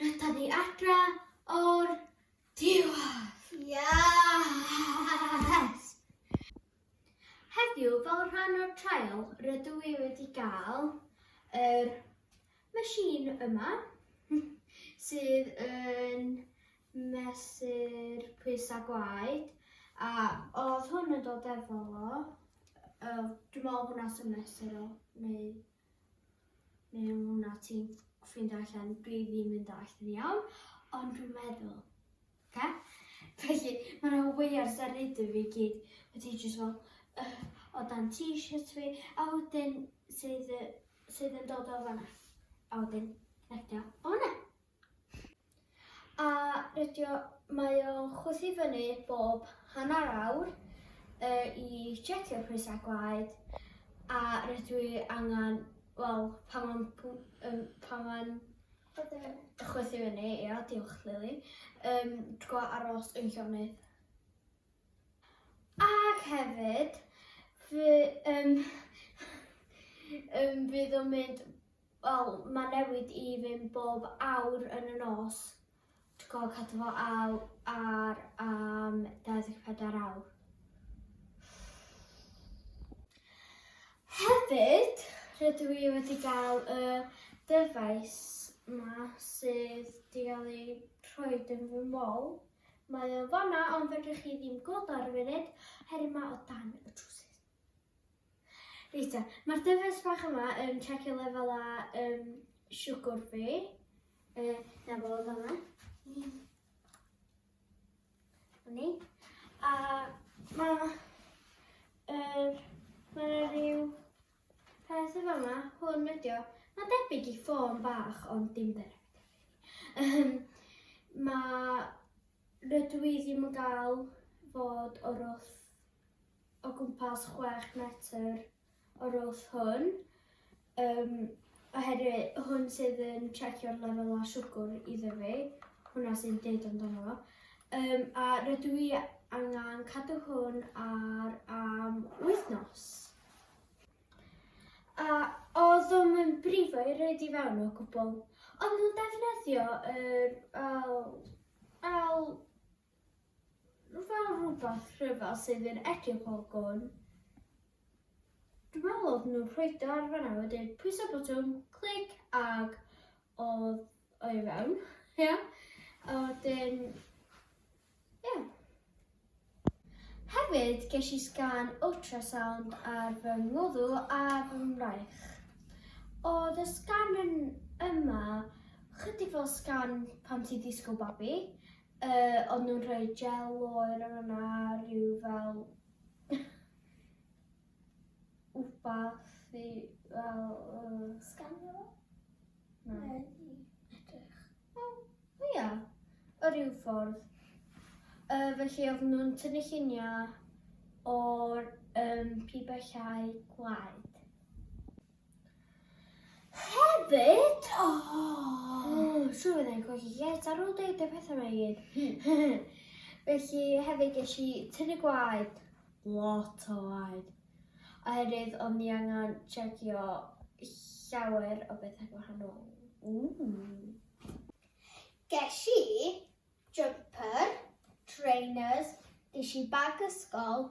Rydyn ni adra o'r diwedd! Yes! Heddiw, fel rhan o'r trial, rydw i wedi gael yr machine yma, sydd yn mesur pwysau gwaed, a oedd hwn yn dod efo fo, dwi'n meddwl hwnna sy'n mesur o, neu... Mewn hwnna ti'n ffeindio allan dwi ddim yn dallt yn iawn, ond dwi'n meddwl. Oce? Felly, mae yna way ar seryd fi gyd wedi jyst fel uh, o dan t-shirt fi, a wedyn sydd, sydd yn dod o fanna. A wedyn, rectio o fanna. A rydio mae o'n chwythu fyny bob hanner awr yy i checio pwysa gwaed a rydw i angan wel pan ma'n pw- yym pan ma'n chwythu fyny chwythu fyny ia diolch Lili yym dw g'o' aros yn llonydd. Ag hefyd fy- yym yym fydd o'n mynd Wel ma newid i fyn bob awr yn y nos. Dwi gorfod cadw fo al ar am 24 awr. Hefyd rydw i wedi gael y dyfais ma sydd di gael ei rhoed yn fy mol. Mae o fanna ond fedrwch chi ddim gweld o ar y funud heri ma o dan y trwsus. Reit te, mae'r dyfais bach yma yn checio lefel a um, siwgwr fi. E, na fo, fanna. Ni. A mae... Er, mae rhyw peth efo yma, hwn ydio. Mae debyg i ffôn bach, ond dim debyg. Um, mae rydw i ddim yn gael fod o'r wrth o gwmpas chwech metr o'r wrth hwn, um, oherwydd hwn sydd yn trecio'r lefelau siwgr iddo fi, hwnna sy'n deud amdano fo. Um, a rydw i angen cadw hwn ar am wythnos. A oedd o'n yn brifo i roed i fewn o gwbl, ond nhw'n defnyddio yr fel, fel fel rhywbeth rhyfedd sydd yn edrych o gwn. Dwi'n meddwl oedd nhw'n rhoid o ar fanna wedyn pwyso botwm, clic ag oedd o i fewn. Ia. Yeah. A wedyn ia. Yeah. Hefyd ges i sgan ultrasound ar fy ngwddw a fy mraich. Oedd y sgan yn yma chydig fel sgan pan ti disgwyl babi, Yy o'n nhw'n rhoi gel oer ar yna rhyw fel wbath i fel yy... Scanio fo? Na. Neu edrych? O, o ia, o ryw ffordd. Yy felly oedden nhw'n tynnu lluniau o'r yym pibellau gwaed. Hefyd, o! Oh, so fe ddau gwag i get ar ôl deud y pethau yma i gyd. Felly hefyd ges i tynnu gwaed, lot o waed. Oherwydd o'n ni angen checio llawer o bethau gwahanol. Ooh. Ges i jumper, trainers, ges i bag ysgol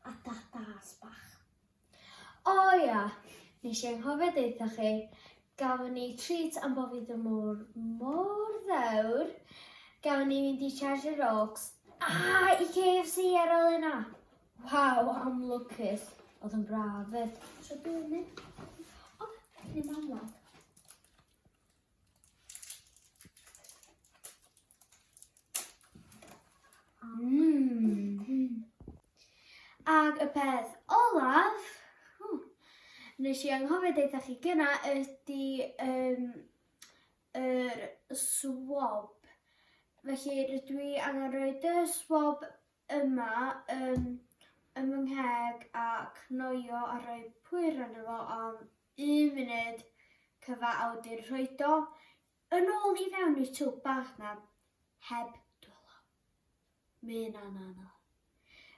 a datas bach. O ia, nes i anghofio deutha chi, gafon ni treat am bo fi ddim mor, mor ddewr. Gafon ni fynd i Charger Oaks a i KFC ar ôl yna. Waw, am lwcus. Oedd yn braf fyd. So dwi'n mynd. O, ni mam Mm. Ac y peth olaf, hmm, nes i anghofio deitha chi gyna, ydy um, yr swab. Felly rydw i angen rhoi y swab yma um, ym fy ngheg a cnoio a rhoi pwyr arno fo am un munud cyfa a wedi'n rhoi do Yn ôl i fewn i'r twb bach 'na heb dwylo. Ma' hynna'n anodd.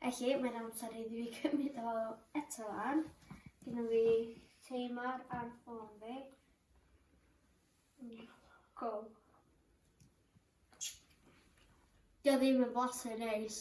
Felly, mae'n amser iddi fi cymryd o eto lan. Gynna fi timer ar ffôn fi. Go. Dio ddim yn blasu neis.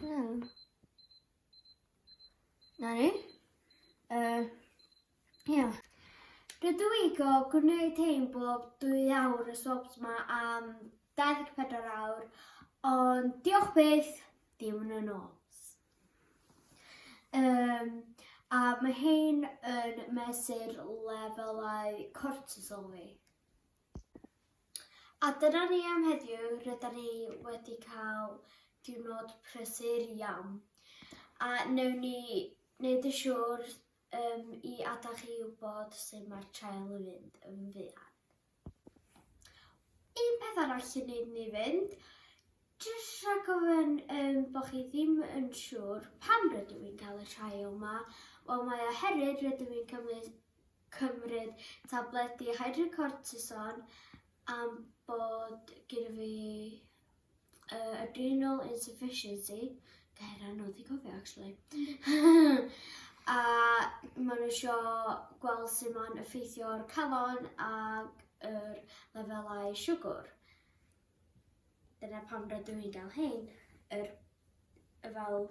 Hmm. Na ni. Uh, yeah. Rydw i go gwneud hyn bob dwy awr y sobs ma am 24 awr, ond diolch beth, dim yn y nos. Um, a mae hyn yn mesur lefelau cortisol fi. A dyna ni am heddiw, rydan ni wedi cael diwrnod prysur iawn a newn ni wneud yn siŵr um, i adael chi wybod sut mae'r trael yn mynd yn fuan. Un peth arall i wneud ni fynd, jyst rhag gofyn um, bod chi ddim yn siŵr pam rydw i'n cael y trael yma, wel mae oherwydd rydw i'n cymryd cymryd tabledi hydrocortison am bod gyda fi uh, adrenal insufficiency. Gair anodd i gofio, actually. a maen nhw sio gweld sut mae'n effeithio'r calon ac yr lefelau siwgr. Dyna pam rydw i'n gael hyn, yr, y fel